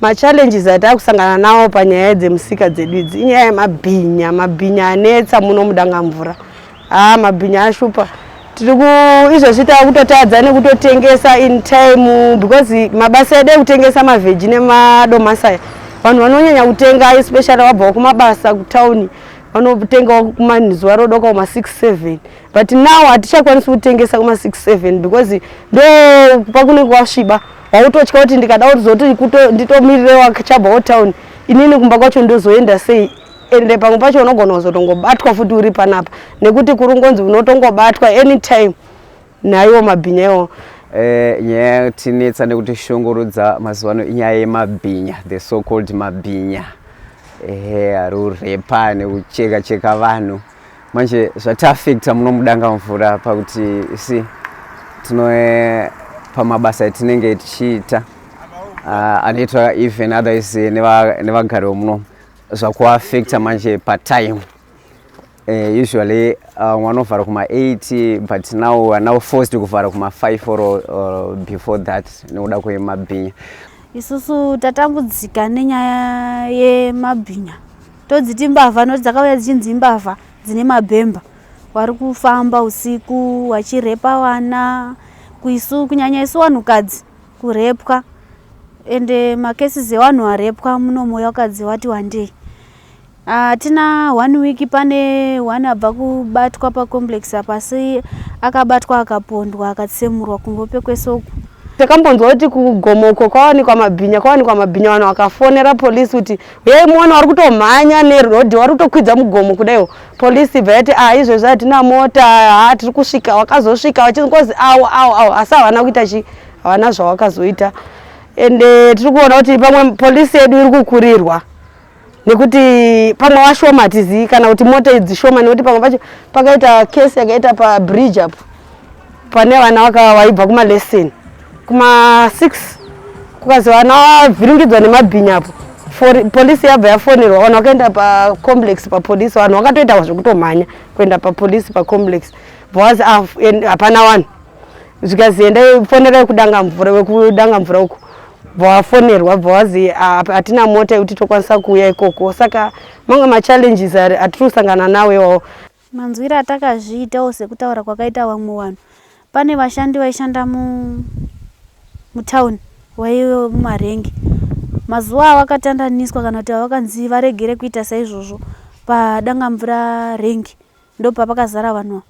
Machallenges ataakusangana nawo panyaya dzemusika dzedu idzi inyaya yemabhinya. Mabhinya anetsa muno muDangamvura. Haa mabhinya ashupa. Tiri ku izvozvi tava kutotadza nekutotengesa in time because mabasa edu ekutengesa mavheji nemadomasi aya vanhu vanonyanya kutenga especially wabvawo kumabasa kutauni vanotengawo kumazuva rodoka kuma 67 but now hatichakwanisi kutengesa kuma 67 because ndo pakunenge kwasviba wautotya kuti ndikada kuzoti nditomirirewo achabva otown inini kumba kwacho ndozoenda sei ende pamwe pacho unogona kuzotongobatwa futi uri panapa nekuti kuri ngonzi unotongobatwa anytime naiwo mabhinya iwo eh, nyaya yatinetsa nekuti shungurudza mazuva ano inyaya yemabhinya the so called mabhinya ehe ari urepa nekucheka cheka vanhu manje zvatiafekta muno mudanga mvura pakuti si tino eh, pamabasa etinenge tichiita ah, anoitwa even otherwise eh, nevagari vemuno zvakuafekta manje patime eh, usually ah, vanovhara uh, kuma8 but now anow forced kuvhara kuma5 or, or before that nekuda kwemabhinya isusu tatambudzika nenyaya yemabhinya todziti imbavha nokuti dzakauya dzichinzi imbavha dzine mabhemba wari kufamba usiku wachirepa vana kuisu kunyanya isu vanhukadzi kurepwa ende macases evanhu varepwa muno moyo wakadzi wati wandei hatina ah, uh, one week pane one abva kubatwa pacomplex apa asi akabatwa akapondwa akatsemurwa kungope kwese uku takambonzwa kuti kugomoko kwawanikwa mabhinya kwawanikwa mabhinya vanhu vakafonera polisi kuti Yei muone wari kutomhanya neroad wari kutokwidza mugomo kudaiwo polisi ibva yati ah izvezvi hatina mota ha tiri kusvika wakazosvika wachingozi awo awo awo asi havana kuita chi havana zvawakazoita ende eh, tiri kuona kuti pamwe polisi yedu iri kukurirwa nekuti pamwe washoma hatizivi kana kuti mota idzi shoma nekuti pamwe pacho pakaita kesi yakaita pabridge apo pane vana vakava vaibva kumalesson kuma6 kukazi vana vavhiringidzwa nemabhinya apo polisi yabva yafonerwa vanhu vakaenda pacomplex papolisi vanhu vakatoita zvekutomhanya kuenda papolisi pacomplex bcause ah, hapana vanhu zvikazi endai fonerai kudanga mvura vekudanga mvura uko bvawafonerwa bvawazi ah, hatina mota yekuti tokwanisa kuuya ikoko saka mamwe machallenges atiri kusangana nawo iwawo Manzwire atakazviitawo sekutaura kwakaita vamwe vanhu. Pane vashandi vaishanda mu mutown vaive mumarengi. Mazuva avakatandaniswa kana kuti avakanzi varegere kuita saizvozvo padangamvura rengi ndopapakazara vanhu ava.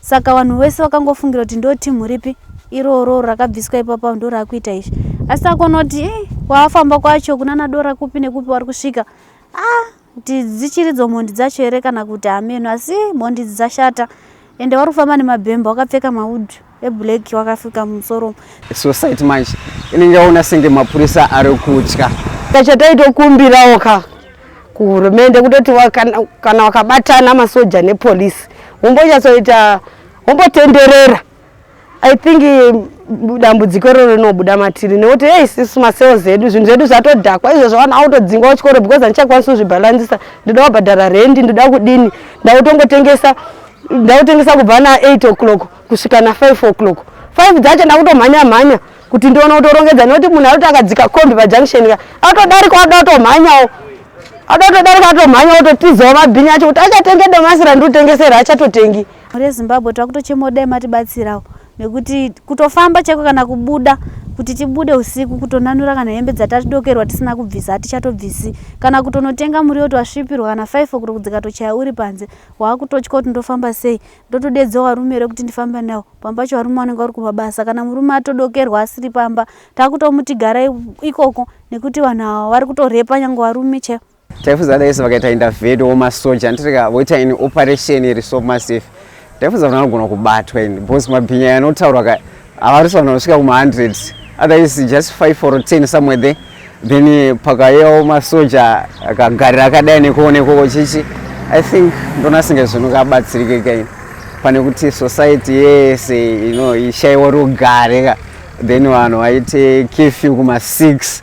Saka vanhu vese vakangofungira kuti ndo team ripi iroro rakabviswa ipapa ndorakuita izvi. Asi takuona kuti eh, kwaafamba kwacho kunana dora kupi nekupi wari kusvika. Ah, Kuti dzichiridzo mhondi dzacho here kana kuti hameno asi mhondi idzi dzashata ende wari kufamba nemabhemba wakapfeka maud eblack wakafika mumusoro society manje inenge yaona senge mapurisa ari kutya tachataitokumbirawo ka kuhurumende kutoti kana wakabatana masoja nepolisi wombonyatsoita wombotenderera I think dambudziko iroro rinobuda matiri nekuti hey isisu masales edu zvinhu zvedu zvatodhakwa izvozvo vanhu autodzingwa kuchikoro because handichakwanisi kuzvibhalansisa ndoda kubhadhara rendi ndoda kudini ndakutongotengesa ndakutengesa kubva na8 o'clock kusvika na5 o'clock 5 dzacho ndakutomhanya mhanya kuti ndiona kutorongedza nekuti munhu arikuti akadzika kombi pajunction ka atodarika ada kutomhanyawo ada kutodarika atomhanya ototizawo mabhini acho kuti achatenge domasi randiri kutengesera achatotengi Mhuri yeZimbabwe takutochemawo dai matibatsirawo nekuti kutofamba chaiko kana kubuda kuti tibude usiku kutonanura kana hembe dzatatidokerwa tisina kubvisa hatichatobvisi kana kutonotenga muriwo twasvipirwa kana 5 okuro kudzikatochaya uri panze waakutotya kuti ndofamba sei ndotodedza warume here kuti ndifambe nawo pamba pacho varume vanenge vari kumabasa kana murume atodokerwa asiri pamba takutomuti garai ikoko nekuti vanhu ava vari kutorepa nyange varume chaivo taifunza daise vakaita intervate womasoja anditika voita ini operation iri so massive taifunza kuti anogona kubatwa ini because mabhinya yanotaurwa ka avarisa vanhu vanosvika kuma-hundred otherwise just five or ten somewhere there then eh, pakayewo masoja akagarira akadai nekuonekoko chichi i think ndonasinga zvinhu kabatsirike kaini pane kuti society yese ino ishaiwa rugare ka then vanhu vaite kefew kuma-six